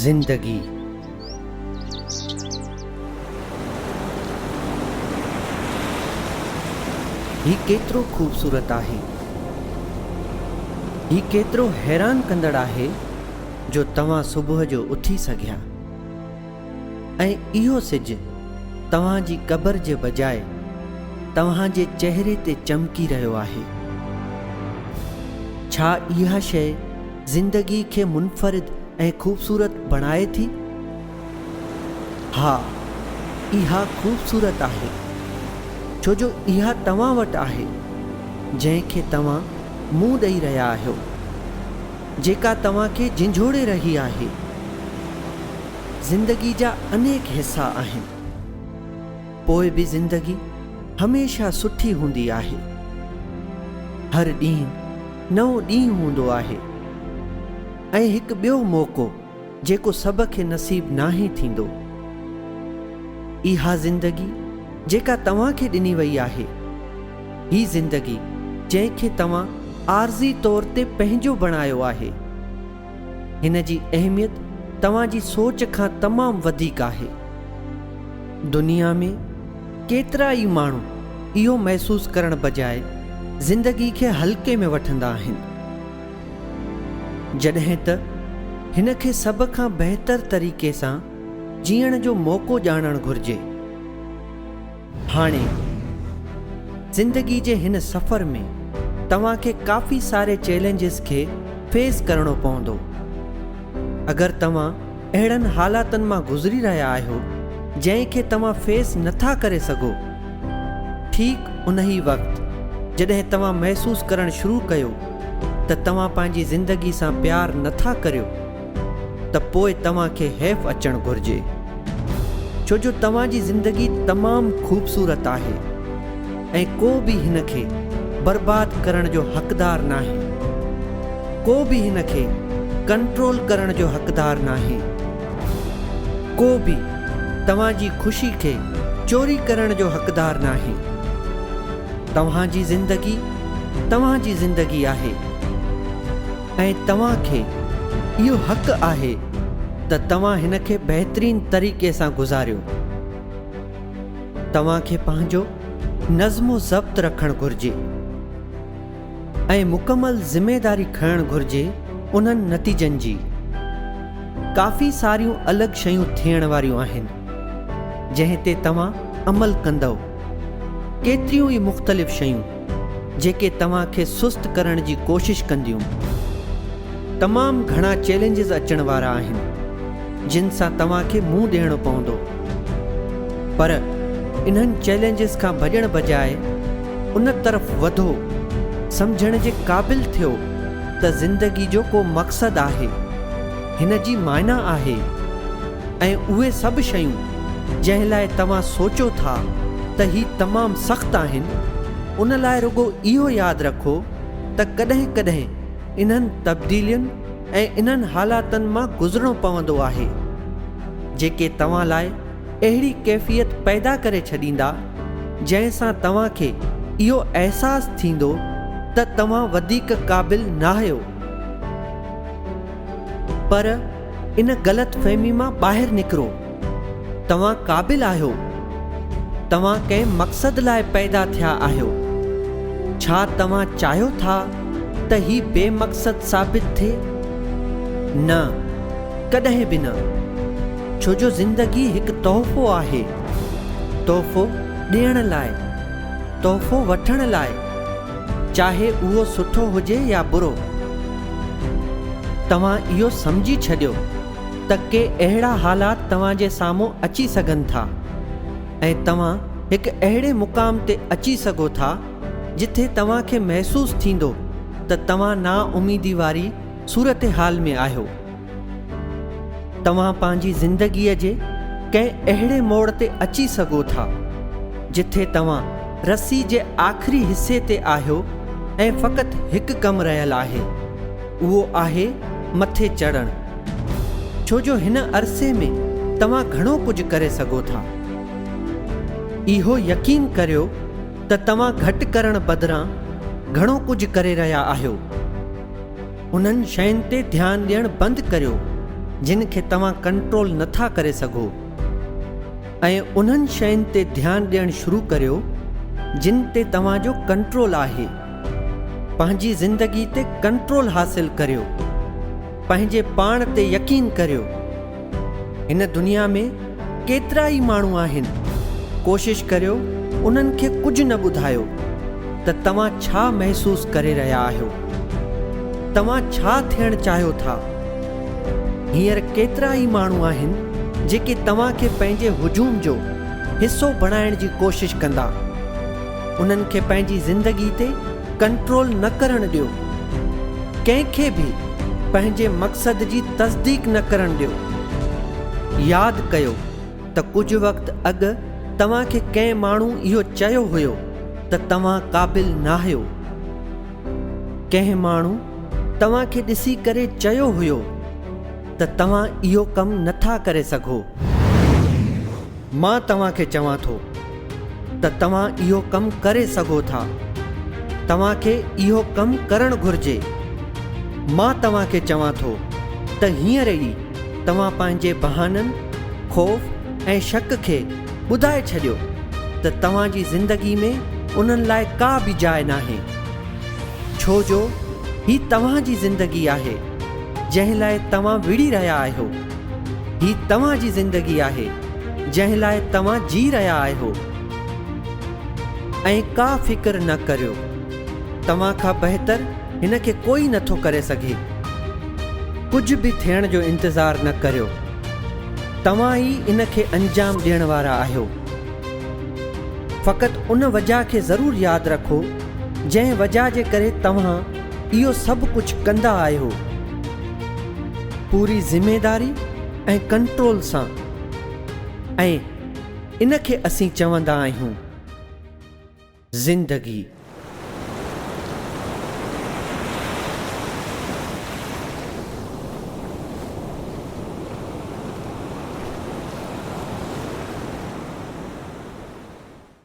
زندگي هي ڪيترو خوبصورت آهي هي ڪيترو حيران ڪندڙ آهي جو توهان صبح جو اٿي سگهيا ۽ اهو سج توهان جي قبر جي بجاء توهان جي چهري تي چمڪي رهيو آهي. ڇا اها شيء زندگي کي منفرد ۽ خوبصورت بڻائي ٿي؟ ها، اها خوبصورت آهي، ڇو جو اها توهان وٽ آهي، جنهن کي توهان منهن ڏئي رهيا آهيو. جيڪا توهان کي جنجهوڙي رهي آهي. زندگي جا انيڪ حصا آهن. پوء به زندگي هميشه سٺي هوندي آهي. هر ڏينهن نئون ڏينهن هوندو آهي ۽ هڪ ٻيو موقعو. جيڪو سڀ کي نصيب ناهي ٿيندو. اها زندگي جيڪا توهان کي ڏني وئي آهي، هي زندگي جنهن کي توهان عارضي طور تي پنهنجو بڻايو آهي، هن جي اهميت توهان جي سوچ کان تمام وڌيڪ آهي. دنيا ۾ ڪيترا ئي ماڻهو اهو محسوس ڪرڻ بجاء زندگي کي هلڪي ۾ وٺندا آهن. جڏهن ته هن کي سڀ کان بهتر طريقي سان جيئڻ جو موقعو ڄاڻڻ گهرجي. هاڻي زندگي جي هن سفر ۾ توهان کي ڪافي ساري چئلينجز کي فيس ڪرڻو پوندو. اگر توهان اهڙن حالاتن مان گذري رهيا آهيو جنهن کي توهان فيس نٿا ڪري سگهو. ٺيڪ انهي وقت جڏهن توهان محسوس ڪرڻ شروع ڪيو ته توهان پنهنجي زندگي سان پيار نٿا ڪريو ته پوء توهان کي حيف اچڻ گهرجي ڇو جو توهان جي زندگي تمام خوبصورت آهي. ۽ ڪو به هن کي برباد ڪرڻ جو حقدار ناهي. ڪو به هن کي ڪنٽرول ڪرڻ جو حقدار ناهي. ڪو به توهان جي خوشي کي چوري ڪرڻ جو حقدار ناهي. توهان جي زندگي توهان جي زندگي آهي ۽ توهان کي اهو حق آهي ته توهان هن کي بهترين طريقي سان گذاريو. توهان کي پنهنجو نظم و ضبط رکڻ گهرجي ۽ مڪمل ذميداري کڻڻ گهرجي انهن نتيجن جي ڪافي ساريون الڳ شيون ٿيڻ واريون آهن جنهن تي توهان عمل ڪندؤ ڪيتريون ئي مختلف شيون جيڪي توهان کي سست ڪرڻ جي ڪوشش ڪنديون. تمام گهڻا چئلينجز اچڻ وارا آهن جن سان توهان کي منهن ڏيڻو پوندو پر انهن چئلينجز کان ڀڄڻ بجاء ان طرف وڌو سمجهڻ جي قابل ٿيو ته زندگي جو ڪو مقصد آهي هن جي معنيٰ آهي ۽ اهي سڀ شيون جنهن لاء توهان سوچو ٿا ته هي تمام سخت آهن، ان لاء رڳو اهو ياد رکو ته ڪڏهن ڪڏهن انهن تبديلين ۽ انهن حالاتن مان گذرڻو پوندو آهي، جيڪي توهان لاء اهڙي ڪيفيت پيدا ڪري ڇڏيندا، جنهن سان توهان کي اهو احساس ٿيندو ته توهان وڌيڪ قابل ناهيو. پر. ان غلط فهمي مان ٻاهر نڪرو توهان قابل آهيو توهان ڪنهن مقصد لاء پيدا ٿيا آهيو ڇا توهان چاهيو ٿا ته هي بي مقصد ثابت ٿئي نه ڪڏهن به نه ڇو جو زندگي هڪ تحفو آهي تحفو ڏيڻ لاء تحفو وٺڻ لاء چاهي اهو سٺو هجي يا برو. توهان اهو سمجهي ڇڏيو ته ڪي اهڙا حالات توهان جي سامهون اچي سگهن ٿا ۽ توهان هڪ اهڙي مقام تي اچي سگهو ٿا جٿي توهان کي محسوس ٿيندو ته توهان نااميدي واري صورتحال ۾ آهيو. توهان پنهنجي زندگيء جي ڪنهن اهڙي موڙ تي اچي سگهو ٿا، جٿي توهان رسي جي آخري حصي تي آهيو ۽ فقط هڪ ڪم رهيل آهي، اهو آهي مٿي چڙهڻ. ڇو جو هن عرصي ۾ توهان گهڻو ڪجهه ڪري سگهو ٿا. اهو يقين ڪريو ته توهان گهٽ ڪرڻ بدران گهڻو ڪجهه ڪري رهيا آهيو. انهن شين تي ڌيان ڏيڻ بند ڪريو جن کي توهان ڪنٽرول نٿا ڪري سگهو ۽ انهن شين تي ڌيان ڏيڻ شروع ڪريو جن تي توهان جو ڪنٽرول آهي پنهنجي زندگي تي ڪنٽرول حاصل ڪريو پنهنجي پاڻ تي يقين ڪريو هن دنيا ۾ ڪيترا ئي ماڻهو آهن، ڪوشش ڪريو انهن کي ڪجهه نه ٻڌايو ته توهان ڇا محسوس ڪري رهيا آهيو، توهان ڇا ٿيڻ چاهيو ٿا. هينئر ڪيترا ئي ماڻهو آهن جيڪي توهان کي پنهنجي هجوم جو حصو بڻائڻ جي ڪوشش ڪندا. انهن کي پنهنجي زندگي تي ڪنٽرول نه ڪرڻ ڏيو. ڪنهن کي به پنهنجي مقصد جي تصديق نه ڪرڻ ڏيو. ياد ڪيو ته ڪجهه وقت اڳ توهان کي ڪنهن ماڻهو اهو چيو هيو ته توهان قابل ناهيو. ڪنهن ماڻهو توهان کي ڏسي ڪري چيو هيو ته توهان اهو ڪم نٿا ڪري سگهو. مان توهان کي چوان ٿو ته توهان اهو ڪم ڪري سگهو ٿا. توهان کي اهو ڪم ڪرڻ گهرجي. مان توهان کي چوان ٿو ته هينئر ئي توهان پنهنجي بهانن، خوف ۽ شڪ کي ٻڌائي ڇڏيو ته توهان جي زندگي ۾ انهن لاء ڪا به جاء ناهي. ڇو جو هي توهان جي زندگي آهي، جنهن لاء توهان وڙهي رهيا آهيو. هي توهان جي زندگي آهي جنهن لاء توهان جي رهيا آهيو ۽ ڪا فڪر نه ڪريو توهان کان بهتر هن کي ڪوئي نه ٿو ڪري سگهي ڪجهه به ٿيڻ جو انتظار نه ڪريو توهان ئي ان کي انجام ڏيڻ وارا آهيو فقط ان وجهه کي ضرور ياد رکو جنهن وجهه جي ڪري توهان اهو سڀ ڪجهه ڪندا آهيو پوري ذميداري ۽ ڪنٽرول سان ۽ ان کي اسين چوندا آهيون زندگي.